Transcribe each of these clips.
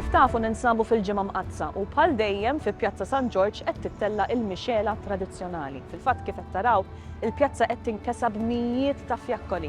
Kif tafu ninsabu fil-Ġimgħa Mqaddsa u bħal dejjem fi Pjazza San Ġorġ qed tittella' il-mixgħela tradizzjonali. Fil-fatt kif qed taraw, il-pjazza qed tinkesa b'mijiet ta' fjakkoli.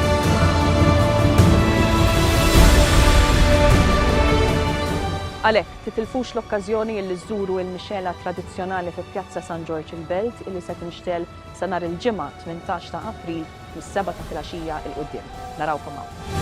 Għalhekk, titilfux l-okkażjoni illi żżuru il-mixgħela tradizzjonali fi Pjazza San Ġorġ il-Belt illi se tinxtegħel sa nhar il-Ġimgħa 18 ta' April mis-sebgħa ta' filgħaxija 'l quddiem. Narawkom hawn.